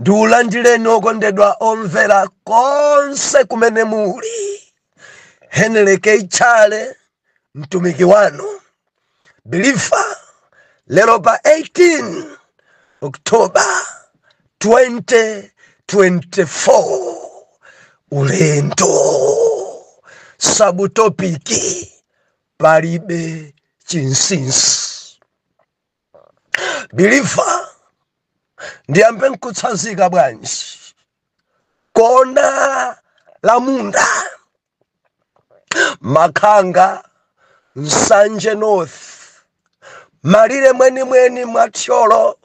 ndiulandireni okondedwa omvera konse kumene muli henry keitchale mtumiki wanu bilifa lero pa 18 oktoba 2024 ulendo sabutopiki palibe chinsisi bilifa ndiyambe nkutsanzika bwanji kona la munda makhanga nsanje north malire mwenimweni mwa thyolo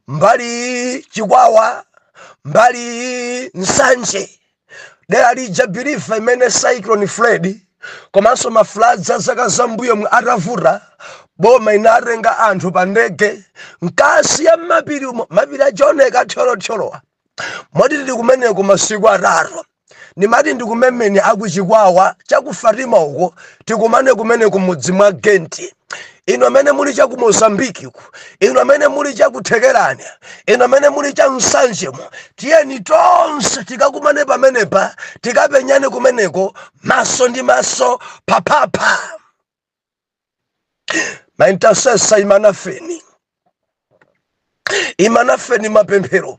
mbali iyi chikwawa mbali iyi nsanje dera lija bilifa imene cyclone fred komanso mafuladzi a zaka zambuyomu atavuta boma inatenga anthu pa ndege mkati ya mmapiri umo mapiri aja oneka thyolothyolowa moti tili kumeneko masiku atatu ndimati ndikumemeni akuchikwawa chakufatima uko tikumane kumeneko mudzi mwa genti inu amene muli cha ku mozambiki uko inu amene muli cha ku thekerani inu amene muli cha msanjemo tiyeni tonse tikakumane pamenepa tikapenyane kumeneko maso ndi maso paphapha ma intercessor imanafeni imanafeni mapemphero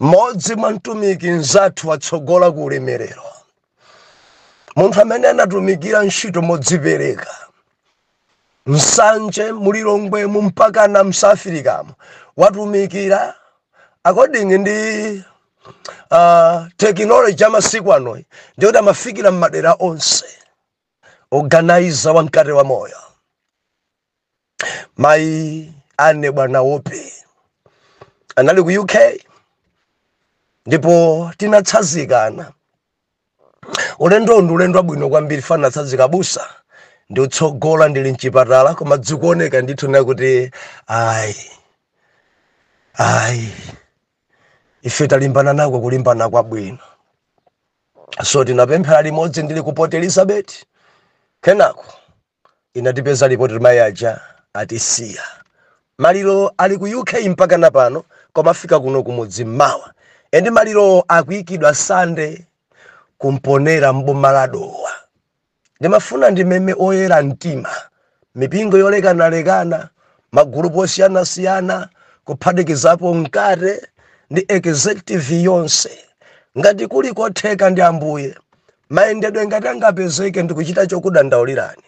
mmodzi mwa mtumiki mzathu watsogola ku ulemerero munthu amene anatumikira ntchito modzipereka msanje mulilongwemu mpakana msafirikamo watumikira according ndi uh, tekinoloji amasiku anoyi ndikuti amafikira mmadera onse organizer wa mkate wa moyo mayi ane bwana wope anali ku uk ndipo tinatsazikana ulendo ndi ulendo wabwino kwambiri fana tsazika busa ndikutsogola ndili mchipatala koma dzikuoneka ndithu na kuti ayi ayi ife talimbana nako kulimbana kwabwino so tinapemphera limodzi ndili ku port elizabeth kenako inatipeza report mayi aja atisiya maliro ali ku uk mpakana pano koma afika kuno kumudzi mmawa and malirowo akuikidwa sunday kumponera m'boma la dowa ndimafuna ndimeme oyera mtima mipingo yolekanalekana magulupu osiyanasiyana kuphatikizapo mkate ndi executive yonse ngati kuli kotheka ndi ambuye mayendedwe ngati angapezeke ndikuchita ndikudandaulirani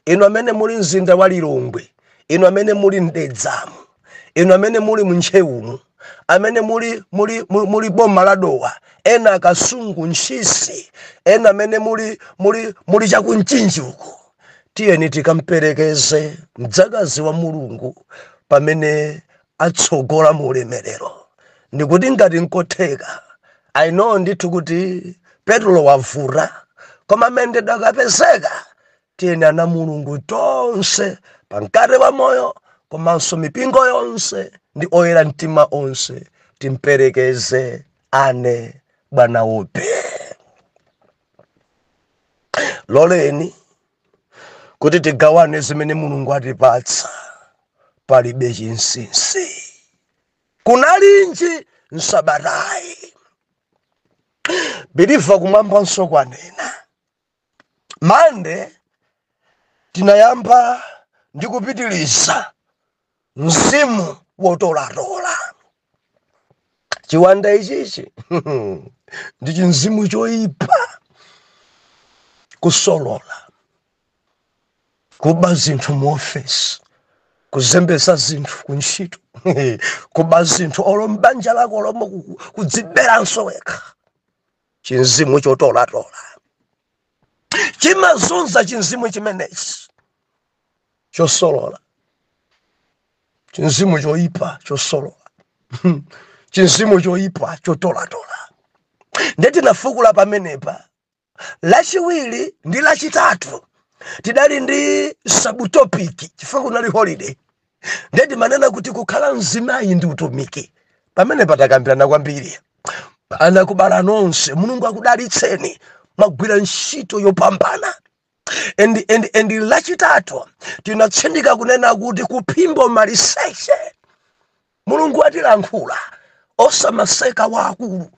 inu amene muli mu mzinda wa lilongwe inu amene muli mdedzamu inu amene muli mntcheumu amene muli muli muli, muli m'boma la dowa ena akasungu ntchisi ena amene muli muli muli chakumchinji uko tiyeni tikamperekeze mdzakazi wa mulungu pamene atsogola mu ulemerero. Ndikuti ngati nkotheka, I know ndithu kuti petulo wavuta, koma amene ndalama ikapezeka tiyeni ana a Mulungu tonse pa mkate wa moyo komanso mipingo yonse ndi oyera mtima onse timperekeze ane bwana upe. Loleni kuti tigawane zimene mulungu atipatsa palibe chinsinsi kunalinji msabatayi biliva kumwambanso kwanena mande tinayamba ndi kupitiriza mzimu wotolatola chiwanda ichichi ndi chimzimu choyipa kusolola kuba zinthu mu ofesi kuzembetsa zinthu ku ntchito kuba zinthu olo m'banja lako lomo kudziberanso wekha chimzimu chotolatola chimazunza chimzimu chimenechi chosolola chinzimu choyipa chosolola chinzimu choyipa chotolatola nde tinafukula pamenepa lachiwiri ndi lachitatu tidali ndi sabutopiki chifukwa kunali holiday nde timanena kuti kukhala mzimayi ndi utumiki pamenepa takambirana kwambiri anakubala nonse mulungu akudalitseni mwagwira ntchito yopambana and, and, and lachitatu tinatsindika kunena kuti kuphimba maliseche mulungu watilankhula osamaseka waakulu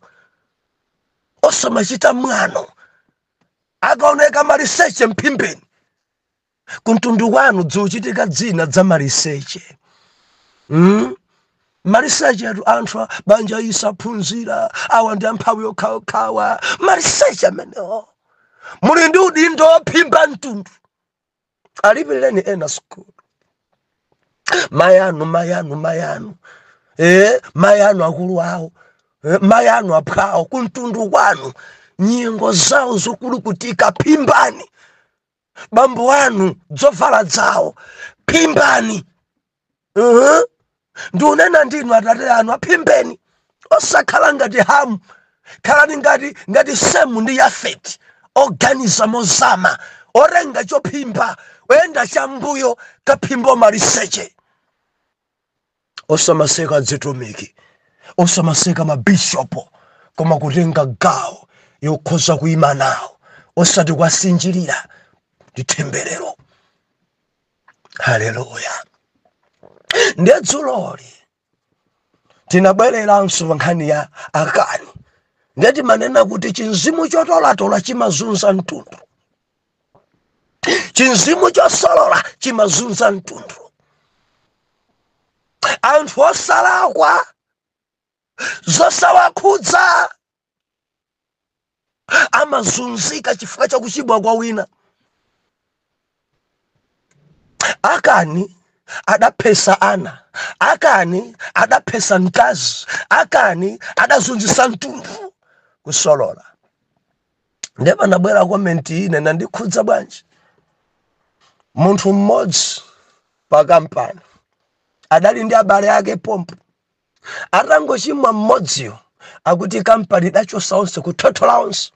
osamachita mwano akaoneka maliseche mphimbeni kumtundu kwanu zochitika zina za maliseche mm? Maliseche athu anthu a banja ili saphunzira awa ndi amphawi okhaokha awa maliseche amenewo muli ndi udindo wophimba mtundu alipireni ena sukulu mayanu mayanu mayanu eh, mayanu akulu awo eh, mayanu aphwawo kumtundu kwanu nyengo zawo zokulukutika phimbani bambo anu zovala zawo phimbani uh-huh. ndikunena ndinu atate anu aphimbeni osakhala ngati hamu khalani ngati ngati semu ndi yafeti oganiza mozama otenga chophimba oyenda chambuyo kukaphimba maliseche osamaseka azitumiki osamaseka mabishopo koma kutenga gawo yokhoza kuyima nawo osati kuwasinjirira ndi temberero haleluya ndiye dzuloli tinabwereranso pa nkhani ya akani ndiye timanena kuti chinzimu chotolatola chimazunza mtundu chinzimu chosolola chimazunza mtundu anthu osalakwa zosawakhudza amazunzika chifukwa cha kuchimwa kwa wina akani adaphetsa ana akani adaphetsa mkazi akani adazunzitsa mtundu kusolola ndiye panabwera komenti ine inandikhudza bwanji munthu mmodzi pa kampani adali ndi abale ake pompo atangochimwa mmodziyo akuti kampani idachotsa onse kuthothola onse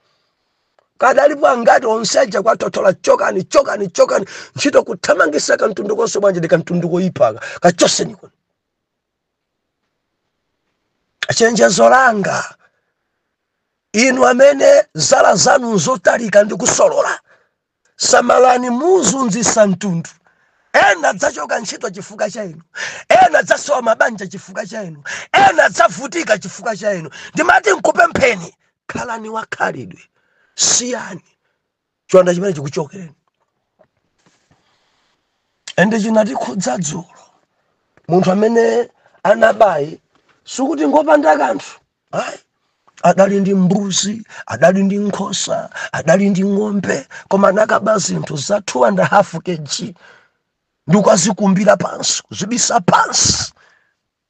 adalipo angati onse aja kuwathothola chokani chokani chokani ntchito kuthamangitsa kamtundu konse bwanji ndi kamtundu koyipaka kachotseni kuno chenjezo langa inu amene zala zanu nzotalika ndi kusolola samalani muzunzitsa mtundu ena adzachoka ntchito chifukwa cha inu ena adzasowa mabanja chifukwa cha inu ena adzavutika chifukwa cha inu ndimati nkupempheni khalani wakhalidwe siyani chiwanda chimenechi chikuchokereni ende chinatikhudza dzulo munthu amene anabayu sikuti ngopanda kanthu ayi adali ndi mbuzi adali ndi nkhosa adali ndi ng'ombe koma anakaba zinthu za 2 and a half kg ndikukazikumbira pansi kuzibisa pansi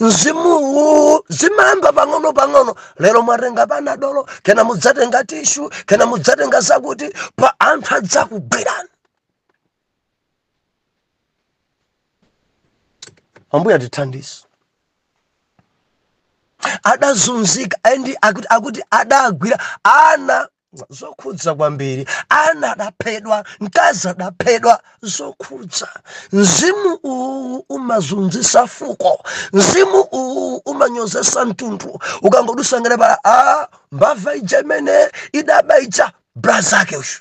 mzimuwu zimayamba pang'ono pang'ono lero mwatenga panadolo kenako mudzatenga tishu kenako mudzatenga zakuti pa anthu adzakugwirani ambuye tithandize adazunzika ende akuti adagwira ana zokhudza kwambiri ana adaphedwa mkazi adaphedwa zokhudza mzimu uwu umazunzisa fuko mzimu uwu umanyozesa mtundu ukangodusa ng'eee paa mbava ija imene idaba ija brazake uyo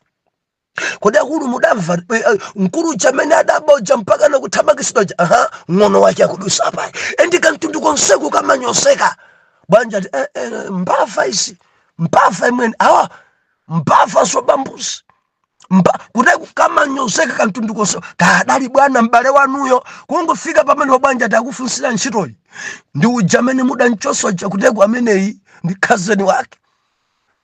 kodi akulu mudamva eh, eh, mkulu uja amene adaba uja mpaka nakuthamangitsidwa uja aha ng'ono wake akudusa apa endi kamtundu konseku kamanyozeka pabwanja ati eh, eh, mbava izi mbava imweni awa mbava zoba mbuzi kuda kamanyozeka kamtundu konse kadali bwana m'bale wanuyo kungofika pamene bwana ati akufunsira ntchitoyi ndi uja amene mudamchosa uja kuteroku ameneyi ndi khazeni wake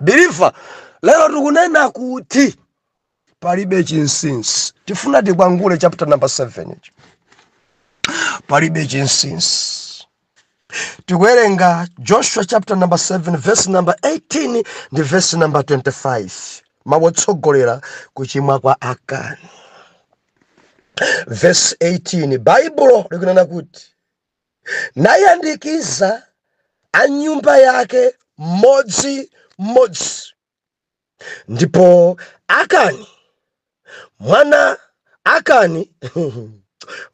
believer lero tikunena kuti palibe chinsinsi tifuna tikwangule chapter number 7 palibe chinsinsi tikuwerenga joshua chapter number 7 verse number 18 ndi verse number 25 mawu otsogolera kuchimwa kwa akani verse 18 baibulo likunena kuti nayandikiza a nyumba yake mmodzi mmodzi. Ndipo Akani, mwana Akani,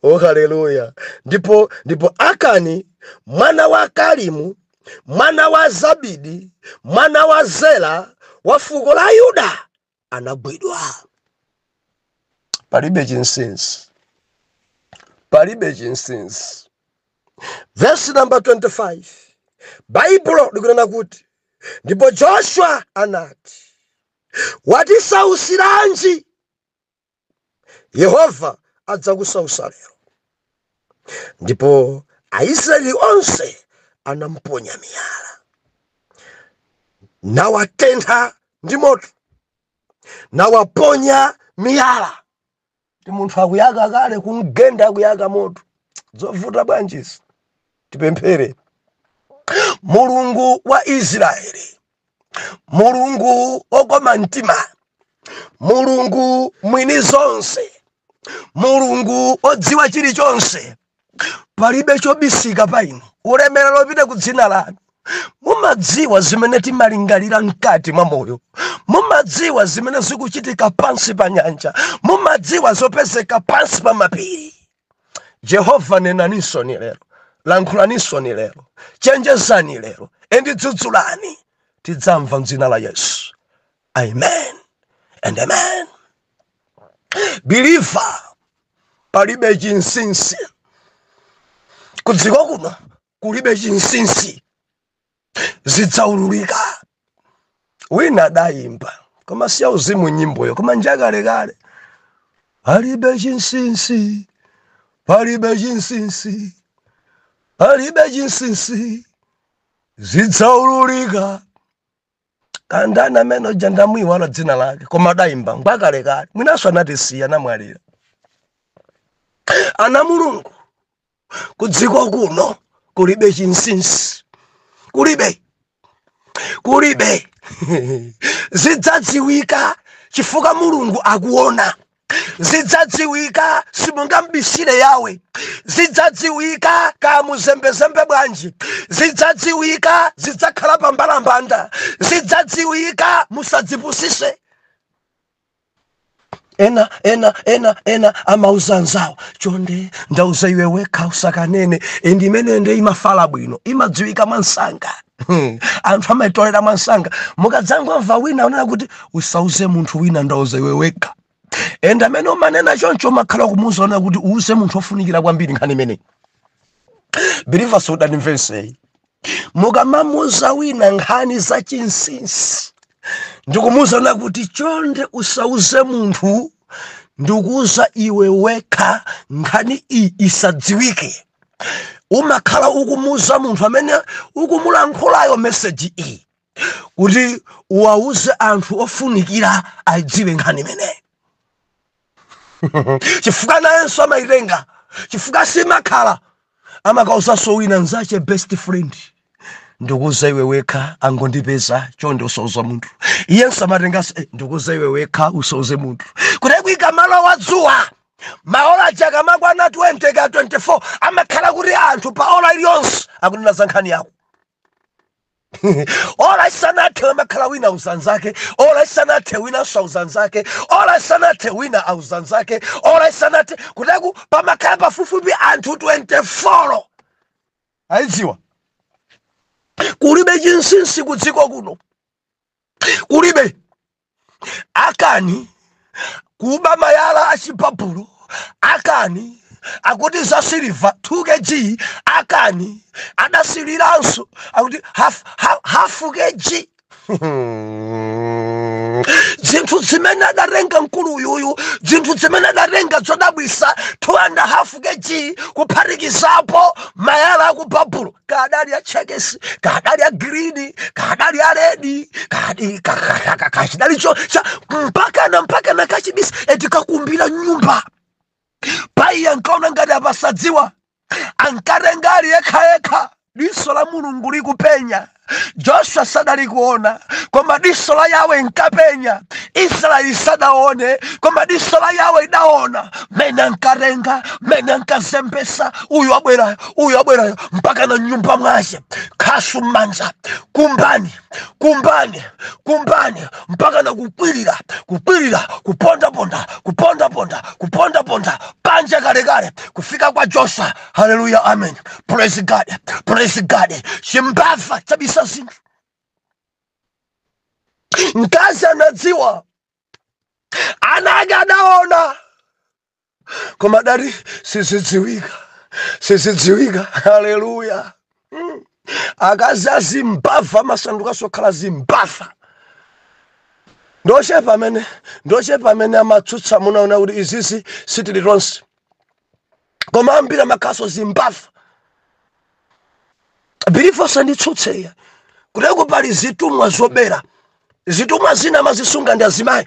oh haleluya! Ndipo ndipo Akani mwana wa Kalimu, mwana wa Zabidi, mwana wa Zera wa fuko la Yuda, anagwidwa palibe chinsinsi palibe chinsinsi vesi namba 25 baibulo likunena kuti ndipo joshua anati watisausiranji yehova adzakusausa lero ndipo aisraeli onse anamponya miyala nawatentha ndi moto nawaponya miyala ndi munthu akuyaka kale kumgenda akuyaka moto zovuta bwanji izi tipemphere mulungu wa israeli mulungu okoma mtima mulungu mwini zonse mulungu odziwa chilichonse palibe chobisika pa inu ulemerero upite ku dzina lanu mumadziwa zimene timalingalira mkati mwa moyo mumadziwa zimene zikuchitika pansi pa nyanja mumadziwa zopezeka pansi pa mapiri yehova nenani nsoni lero lankhulani nsoni lero chenjezani lero endi dzudzulani tidzamva mdzina la yesu amen and amen believer palibe chinsinsi kudziko kuno kulibe chinsinsi zidzaululika wina adayimba koma siya uzimu nyimboyo koma njakalekale palibe chinsinsi palibe chinsinsi palibe chinsinsi zidzaululika kaya ndani amene uja ndamuyiwala dzina lake koma adayimba ngwakalekale mwinanso anatisiya anamwalira ana a mulungu kudziko kuno kulibe chinsinsi kulibe kulibe zidzadziwika chifukwa mulungu akuona zidzadziwika simungambisire Yahwe zidzadziwika kamuzembezembe bwanji zidzadziwika zidzakhala pambalambanda zidzadziwika musadzipusise ena ena ena ena amauza anzawo chonde ndauza iwe wekha usakanene and imeneyo nde imafala bwino imadziwika mwansanga Hmm. anthu amaitolera mwansanga mukadzangomva wina akunena kuti usauze munthu wina ndauza iwe wekha and amene umanena choncho umakhala kumuuza unena kuti uuze munthu ofunikira kwambiri nkhani imeneyi believers mudandimva nonsenu mukamamuuza wina nkhani za chinsinsi ndikumuuza wina kuti chonde usauze munthu ndikuuza iwe wekha nkhani iyi isadziwike umakhala ukumuuza munthu amene ukumulankhulayo meseji iyi kuti uwauze anthu ofunikira ayidziwe nkhani imeneyi chifukwa nayenso amayitenga chifukwa simakhala amakauzanso wina nzache best friend ndikuuza iwe wekha angondipeza chonde usauze munthu iyenso amatenganso eh, ndikuuza iwe wekha usauze munthu kuti likamalowa dzuwa maola aja akamakwana 20 ka 24 amakhala kuti anthu pa ola iliyonse akunena za nkhani yako ola isanathe amakhala wina auza anzake ola isanathe winanso auza anzake ola isanathe wina auza anzake ola isanathe kutereku pamakhala pafupifupi anthu 24 aidziwa kulibe chinsinsi kudziko kuno kulibe akani kuba malaya a chibabulo akani akuti za siliva 2 kg akani adasiliranso akuti half, half, half kg zinthu zimene adatenga mkulu uyuyu zinthu zimene adatenga zodabwitsa 2 and half kg kuphatikizapo malaya aku babulo kadali ya chekes kadali ya green kadali ya red kadali kachidali cho cha mpaka na mpaka na kachibisi eti kakumbila nyumba pai ankaona ngati apasadziwa ankatenga ali yekha yekha diso la mulungu likupenya joshua sadali kuona koma diso la yawe inkapenya israeli sadaone koma diso la yawe idaona mene ankatenga mene ankazembesa uyu abwerayo uyo abwerayo mpaka na nyumba mwace khasu m'manja kumbani kumbani kumbani mpaka na kukwirira kukwirira kupondaponda kupondaponda kupondaponda panja kalekale kufika kwa josa haleluya amen praise god praise god chimbava chabisa zinthu mkazi anadziwa ana ake adaona koma dati sizidziwika sizidziwika haleluya mm. akazi azimbava amasandukanso okhala zimbava ndochepa amene ndochepa amene amatsutsa amuna onani kuti izizi sitili tonse koma ambiri amakhalanso zimbava bilifu asanditsutse iye kuteko pali zitumwa zobera zitumwa zina amazisunga ndi azimayi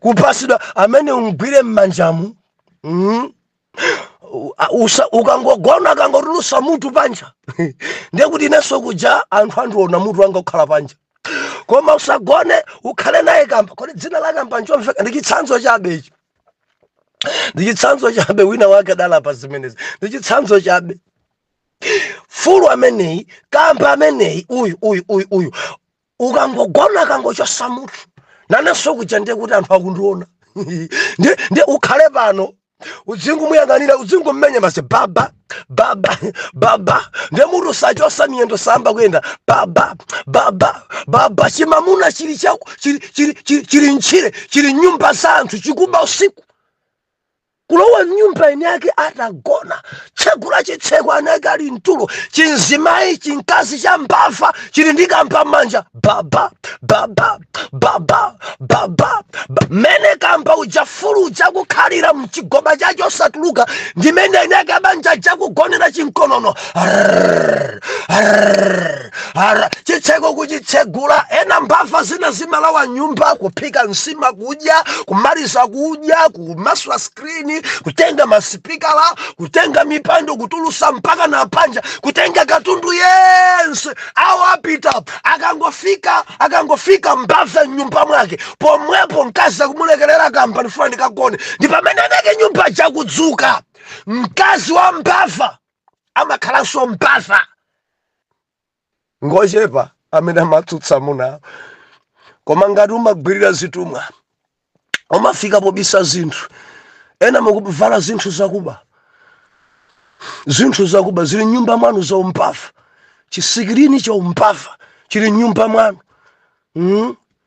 kupasidwa amene umgwire mmanjamu mm? Usa- ukangogona akangotulusa mutu panja ndekuti inenso kuja anthu andiona mutu wanga ukhala panja koma usagone ukhale naye kamba kodi dzina la kamba nchomveka ndi chitsanzo chabe ichi ndi chitsanzo chabe wina wake adala pa zimenezi ndi chitsanzo chabe fulu ameneyi kamba ameneyi uyu uyu uyu uyu ukangogona akangochosa mutu nanenso kuja ndiye kuti anthu akundiona ndiye ndiye ukhale pano udzingomuyang'anira udzingomumenya mbazi baba baba baba ndiye mutu sachosa miyendo sayamba kuyenda baba baba baba chimamuna chili chako chili chili chili chili mtchire chili mnyumba za anthu chikuba usiku kulowa mnyumba eni ake atagona tsegula chitseko eni ake ali mtulo chimzimayi chimkazi cha mbava chili ndi kamba m'manja baba baba baba baba mmene kamba uja fulu uja kukhalira mchigoba chacho osatuluka ndimene eni ake abanja aja kugonera chimkonono Arrrr, arrrr, arrrr. chitseko kuchitsegula ena mbava zina zimalowa mnyumba kuphika nsima kudya kumaliza kudya kumasula skrini kutenga masipikala kutenga mipando kutulusa mpaka na panja kutenga katundu yense awo apita akangofika akangofika mbava mnyumba mwake pomwepo mkazi akumulekerera kamba ndifuna ndikagone ndi pamene eni ake nyumba ija akudzuka mkazi wa mbava amakhalanso mbava ngochepa amene amatsutsa amuna koma ngati umagwirira zitumwa umafika pobisa zinthu ena mukuvala zinthu zakuba zinthu zakuba zili mnyumba mwanu zaumbava chisikilini chaumbava chili mnyumba mwanu mm?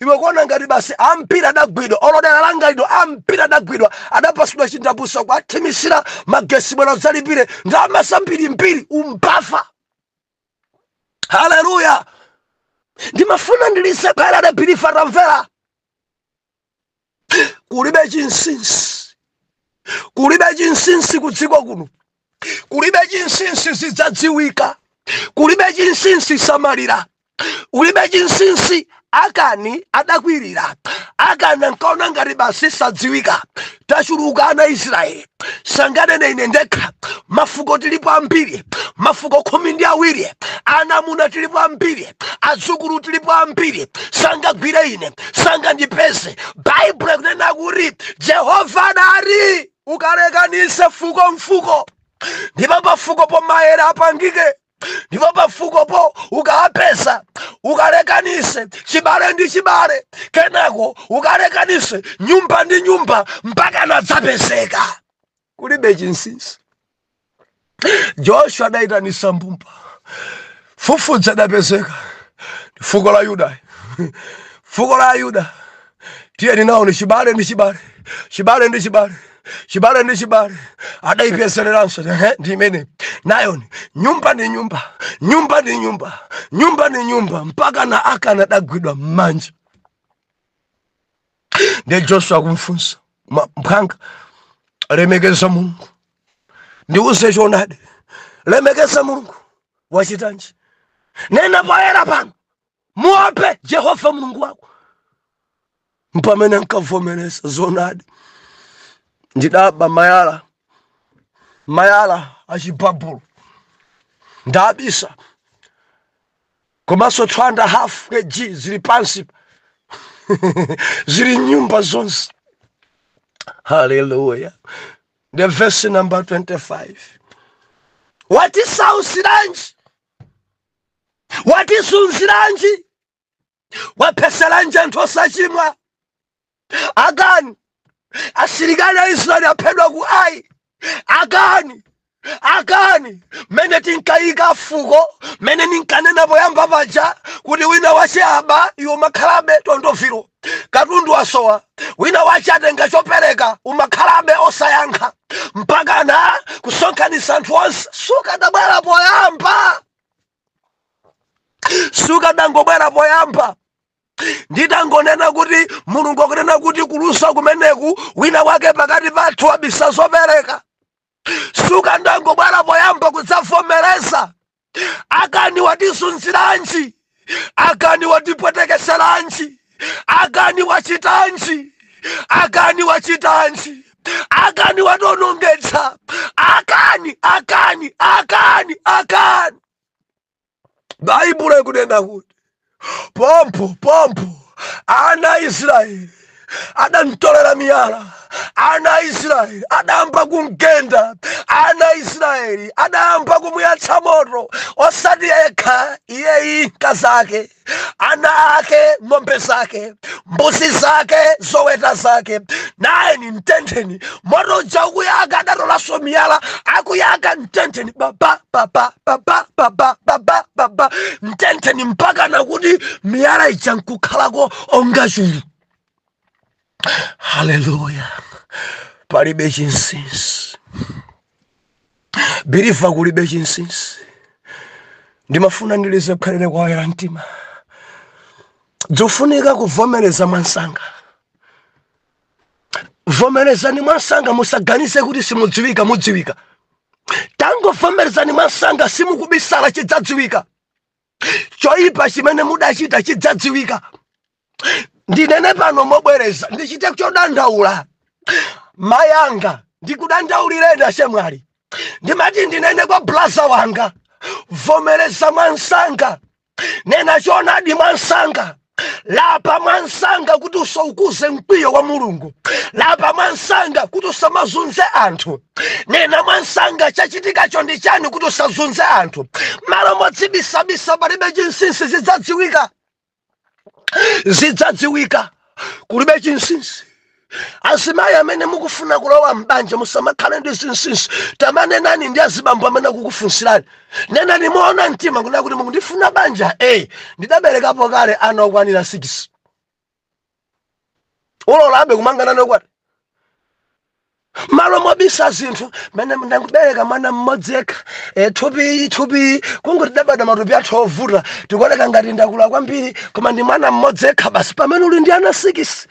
iwe kuona ngati basi ampira adagwidwa olo dera langa lino ampira adagwidwa adapasidwa chindapusa kuwathimitsira magesi bwera udzalipire ndalama zambirimbiri umpafa haleluya ndimafuna ndilise phala adabilifa tamvera kulibe chinsinsi kulibe chinsinsi kudziko kuno kulibe chinsinsi zidzadziwika kulibe chinsinsi samalira kulibe chinsinsi akani adakwirira akani ankaona ngati basi sadziwika tachuluka ana israeli sanganene ine ndekha mafuko tilipo ambiri mafuko khumi ndi awiri ana amuna tilipo ambiri adzukulu tilipo ambiri sangagwire ine sangandipeze baibulo ikunena kuti jehova adati ukalekanise fuko mfuko ndipo pafukopo mayere apangike ndipo pafukopo ukawapeza ukalekanise chibale ndi chibale kenako ukalekanise nyumba ndi nyumba mpakana adzapezeka kulibe chinsinsi joshua adayitanisa mbumba fufudza adapezeka ndi fuko la yuda fuko la yuda tiyeni nawoni chibale ndi chibale chibale ndi chibale chibale ndi chibale adaipezereranso ehe, ndi imene nayoni nyumba ndi nyumba nyumba ndi nyumba nyumba ndi nyumba mpakana akani adagwidwa m'manja ndi joshua kumfunsa "Ma- mphwanga lemekeza mulungu ndiuze choonadi lemekeza mulungu wachitanji nena poyera pano Muope Yehova Mulungu wako. Mpamene ankavomereza zoonadi, ndidaba mayala mayala achibabulo ndabisa komanso 2 and a half kg zili pansi zili m'nyumba zonse haleluya nde verse number 25 watisautsiranji watizunziranji waphetseranji anthu osachimwa akani asilikali a israeli aphedwa ku ai akani akani mmene tinkayika fuko mmene ndinkanena poyamba paja kuti wina wache aba iwe umakhalabe tondoviro Katundu wasowa, wina wache atenga chopereka, umakhalabe osayankha mpakana kusonkhanitsa anthu onse. Sukadabwera poyamba, sukadangobwera poyamba nditangonena kuti Mulungu akunena kuti kulusa kumeneku, wina wake pakati pathu wabisa zopereka. sukandangobwera poyamba kudzavomereza akani watisunziranji akani watipwetekeseranji akani wachitanji akani wachitanji akani watonongetsa akani akani akani akani baibulo ikunena kuti pompo pompo ana a israeli adamtolera miyala ana a israeli adayamba kumgenda ana a israeli adayamba kumuyatsa moto osati yekha iyeyi mkazake ana ake ng'ombe zake mbuzi zake zoweta zake nayeni mtentheni moto uja ukuyaka adatolanso miyala akuyaka mtentheni baba baba baba baba baba baba mtentheni mpakana kuti miyala ija nkukhalako onga chulu haleluya palibe chinsinsi believer kulibe chinsinsi ndimafuna ndilize kukhalire kwa oyera mtima zofunika kuvomereza mwansanga vomerezani mwansanga musaganize kuti simudziwika mudziwika tangovomerezani mwansanga simukubisala chidzadziwika choyipa chimene mudachita chidzadziwika ndinene pano mobwereza ndichite chodandaula mayanga ndikudandaulireni achemwali ndimati ndinene kwa blaza wanga vomereza mwansanga nena choonadi mwansanga lapa mwansanga kuti usaukuze mkwiyo wa mulungu lapa mwansanga kuti usamazunze anthu nena mwansanga chachitikacho ndi chani kuti usazunze anthu m'malo modzibisabisa palibe chinsinsi zidzadziwika zidzadziwika kulibe chinsinsi azimayi amene mukufuna kulowa m'banja musamakhale ndi zinsinsi tamanenani ndi azibambo amene akukufunsirani nenani moona mtima kunena kuti mukundifuna banja e ndidaberekapo kale ana okwanira 6 ulolabe kumanga nane ukwati m'malo mobisa zinthu mene ndangobereka mwana mmodzi yekha e, thupi thupi kungoti tidabadwa matupi athu ovuta tikuoneka ngati ndakula kwambiri koma ndi mwana mmodzi yekha basi pamene uli ndi ana sikisi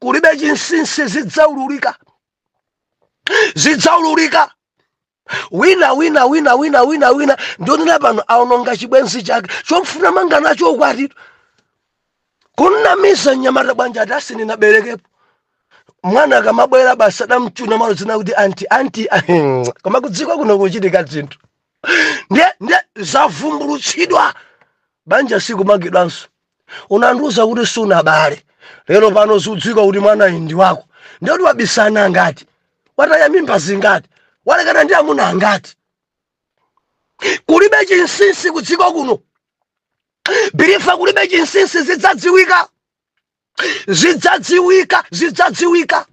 kulibe chinsinsi zidzaululika zidzaululika wina wina wina wina wina wina ndikunena pano aononga chibwenzi chake chofuna kumanga nacho ukwati kumnamiza mnyamata banja ati a sindinaberekepo mwana akamabwera basi adamchuna mwanayo azinena kuti anti anti koma kudziko kuno kuchitika zinthu ndiye ndiye zavumbulutsidwa banja sikumangidwanso unandiuza kuti sunabale lero pano zikudziwika kuti mwanayu ndi wako ndiye kuti wabisa ana angati wataya mimba zingati walekana ndi amuna angati kulibe chinsinsi kudziko kuno believer kulibe chinsinsi zidzadziwika zidzadziwika zidzadziwika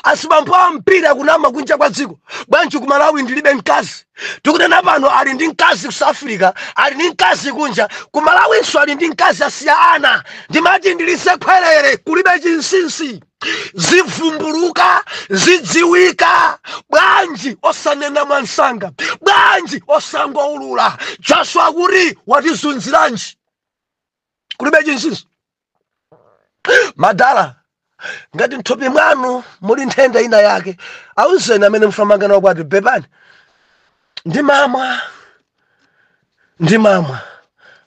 asibambo ambiri akunama kunja kwa dziko bwanji ku malawi ndilibe mkazi tikunena pano ali ndi mkazi ku south africa ali ndi mkazi kunja ku malawinso ali ndi mkazi asiya ana ndimati ndili sekondale kulibe chinsinsi zivumbuluka zidziwika bwanji osanena mwansanga bwanji osangoulula joshua kuti watizunziranji kulibe chinsinsi madala ngati mthupi mwanu muli nthenda ina yake auzeni amene mufuna kumanga nawo ukwati bebani ndimamwa ndimamwa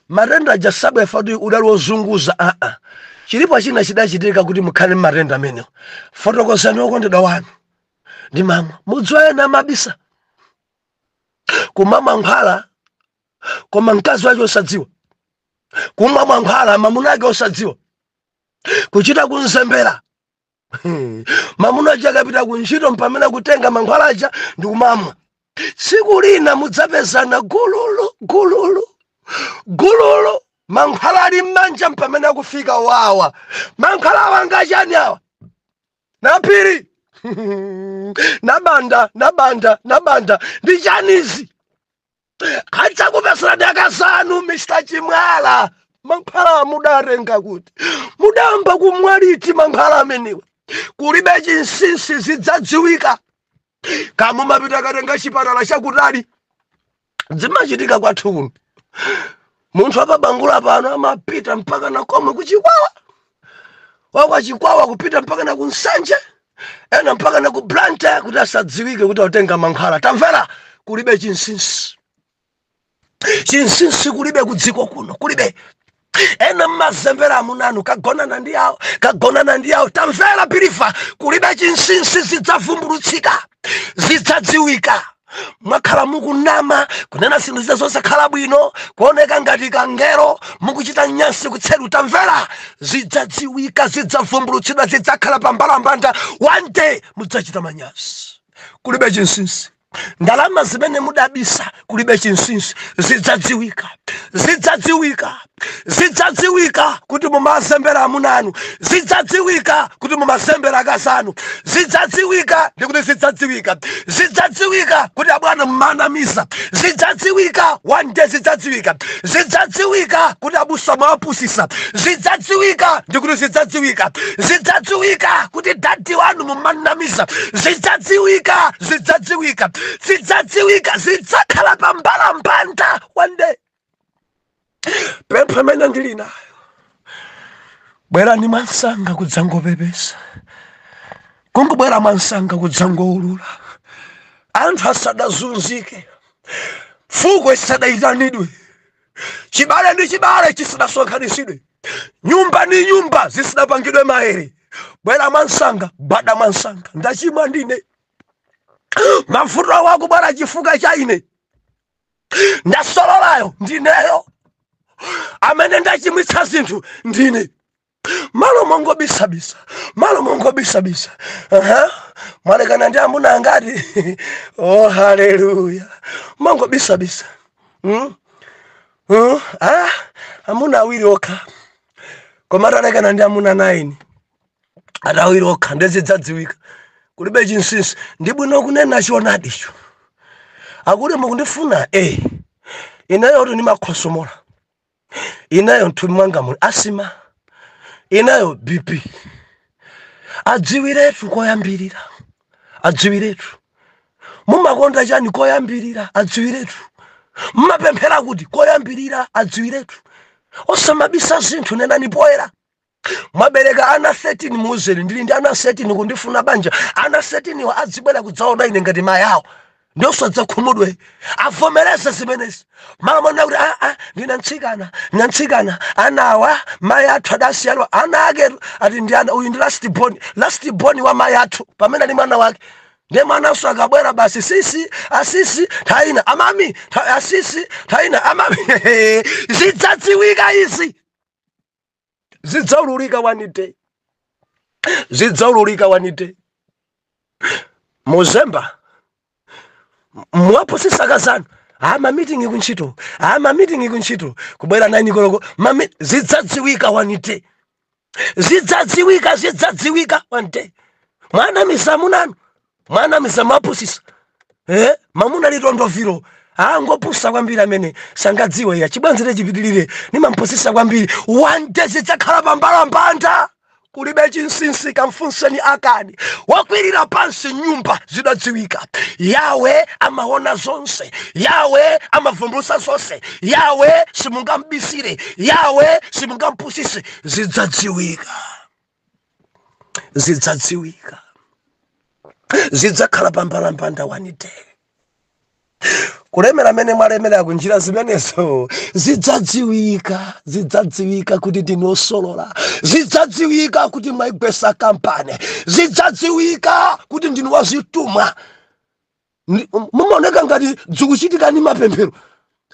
matenda aja sabwera kuti udali wozunguza aa chilipo china chidachitika kuti mukhale ndi matenda amenewo fotokozani okondedwa wanu ndimamwa mudziwe ena amabisa kumamwa mankhwala koma mkazi wake osadziwa kumwa mankhwala mamuna ake osadziwa kuchita kunzembera Hmm. mamuna aja akapita ku ntchito mpamene kutenga mankhwala aja ndi kumamwa tsiku lina mudzapezana gululu gululu gululu mankhwala ali m'manja mpamene akufika wawa mankhwala awa ngachiyani awa naphiri nabanda nabanda nabanda ndi chiyani izi adzakupezani akazanu mr chimwala mankhwala mudatenga kuti mudayamba kumwa liti mankhwala amenewa kulibe chinsinsi zidzadziwika kaya mumapita kukatenga chipatala chakutali zimachitika kwathu kuno munthu wa pa bangula pano amapita mpaka na komwe kuchikwawa wa kwa chikwawa kupita mpaka na kunsanje ena mpaka na ku blantyre kuti asadziwike kuti atenga mankhwala tamvera kulibe chinsinsi chinsinsi kulibe kudziko kuno kulibe ena mmazembera amunanu kagonana ndi awo kagonana ndi awo tamvera believer kulibe chinsinsi zidzavumbulutsidwa zidzadziwika mwakhala mukunama kunena zinthu zina zosakhala bwino kuoneka ngati kangelo mukuchita nyansi kutseri tamvera zidzadziwika zidzavumbulutsidwa zidzakhala pa mbalambanda one day mudzachita manyazi kulibe chinsinsi ndalama zimene mudabisa kulibe chinsinsi zidzadziwika zidzadziwika zidzadziwika kuti mumazembera amuna anu zidzadziwika kuti mumazembera akazi anu zidzadziwika ndi kuti zidzadziwika zidzadziwika kuti abwana mumawanamiza zidzadziwika one day zidzadziwika zidzadziwika kuti abusa mumawapusitsa zidzadziwika ndi kuti zidzadziwika zidzadziwika kuti dadi wanu mumawanamiza zidzadziwika zidzadziwika zidzadziwika zidzakhala pa mbalambanda one day pempha imene ndili nayo bwerani mwansanga kudzangopepesa kungobwera mwansanga kudzangoulula anthu asadazunzike fuko isadayitanidwe chibale ndi chibale chisadasonkhanitsidwe nyumba ndi nyumba zisadapangidwe maere bwera mwansanga bada mwansanga ndachimwa ndine mavuto awo akubwera chifukwa cha ine ndasololayo ndineyo amene ndachimwitsa zinthu ndine malo mongobisabisa malo mongobisabisa uh-huh. mwalekana ndi amuna angati oh haleluya mongobisabisa hmm? hmm? ah, amuna awiri okha koma talekana ndi amuna 9 awiri okha ndiye zidzadziwika kulibe chinsinsi ndi bwino kunena choonadicho akuti mukundifuna e ineyo kuti ndimakhosomola ineyo mthupi mwanga muli asima ineyo bp adziwiretu koyambirira adziwiretu mumakonda chani koyambirira adziwiretu mumapemphera kuti koyambirira adziwiretu osamabisa zinthu nenani poyera mwabereka ana 13 muuzeni ndili ndi ana 13 kundifuna banja ana 13 wa adzibwera kudzaona ine ngati mayi awo ndiye osadzakhumudwa avomereze zimenezi mumanama kuti aa ndine mtsikana ndine mtsikana anawa mayi athu adasiya ana ake ati ndi ana uyu ndi last born last born wa mayi athu pamene ali mwana wake ndiye mwananso akabwera basi sisi asisi thaina amami tha- asisi thaina amami zidzadziwika izi zidzaululika one day zidzaululika one day muzemba mwapusisa akazanu aa mamitingi kuntchito aa mamitingi kuntchito kubwera naini koloko mami zidzadziwika one day zidzadziwika zidzadziwika one day mwanamiza amunanu mwanamiza mwapusisa eh? mamuna litondovilo ngopusa kwambiri amene sangadziwe iya chibwenzicho chipitirire nimampusisa kwambiri one day zidzakhala pambalambanda kulibe chinsinsi kamfunseni akani wakwirira pansi nyumba zidadziwika yawe amaona zonse yawe amavumbulusa zonse yawe simungambisire yawe simungampusise zidzadziwika zidzadziwika zidzakhala pambalambanda one day kulemera mene mwalemera kunjira zimenezo zidzadziwika zidzadziwika kuti ndinu osolola zidzadziwika kuti mwaigwesa kampani zidzadziwika kuti ndinu wazithumwa mumaoneka ngati zikuchitika ndi mapemphero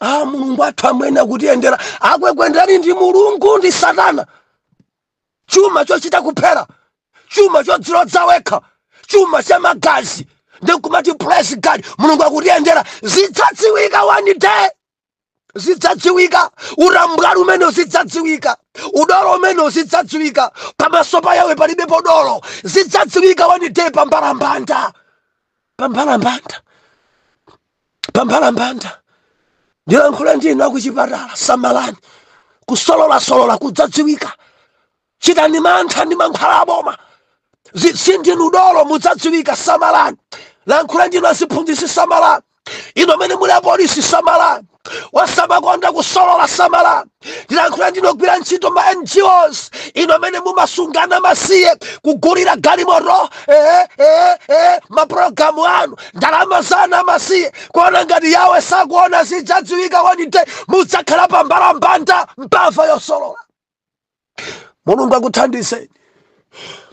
a mulungu athu amwene akutiyendera akwekwenderani ndi mulungu ndi satana chuma chochita kuphera chuma chodzilodza wekha chuma cha magazi nkumati praise god mulungu akutiyendera zidzadziwika one day zidzadziwika utambwali umene zidzadziwika udolo umene zidzadziwika pamaso pa yawe palibe podolo zidzadziwika one day pambalambanda pambalambanda pambalambanda ndilankhula ndi inu akuchipatala samalani kusololasolola kudzadziwika chitani mantha ndi mankhwala aboma sindinu dolo mudzadziwika samalani lankhula ndi inu aziphunzitsi samalani inu amene muli apolisi samalani wasamakonda kusolola samalani ndilankhula ndinu ogwira ntchito ma ngos inu amene mumasunga ana amasiye kugulira galimoto ee ee ee mapulogalamu anu ndalama za ana amasiye kuona ngati yawe sakuona zidzadziwika one day mudzakhala pa mbalambanda mbava yosolola mulungu akuthandizeni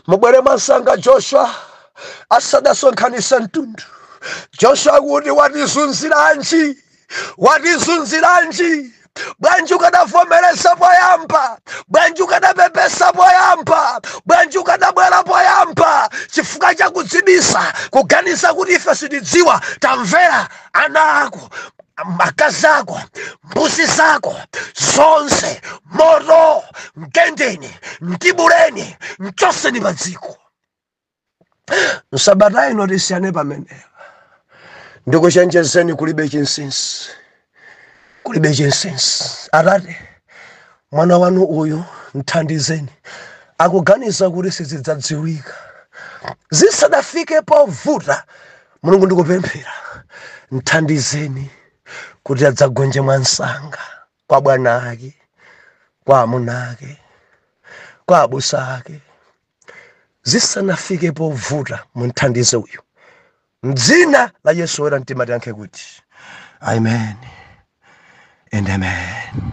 mubwere mwamsanga joshua asadasonkhanise mtundu joshua kuti watizunziranji watizunziranji bwanji ukadavomereza poyamba bwanji ukadapepesa poyamba bwanji ukadabwera poyamba chifukwa chakudzibisa kuganiza kuti ife sitidziwa tamvera ana ako mkazi wako mbuzi zako zonse moto mgendeni mtibuleni mchoseni pa dziko msabata ino tisiyane pamenepa ndikuchenjezeni kulibe chinsinsi kulibe chinsinsi atate mwana wanu uyu mthandizeni akuganiza kuti sizidzadziwika zisadafike povuta mulungu ndikupemphera mthandizeni kuti adzagonje mwamsanga kwa bwana ake kwa amuna ake kwa abusa ake zisanafike povuta mumthandize uyu mdzina la yesu oyera mtima tiyankhe kuti amen and amen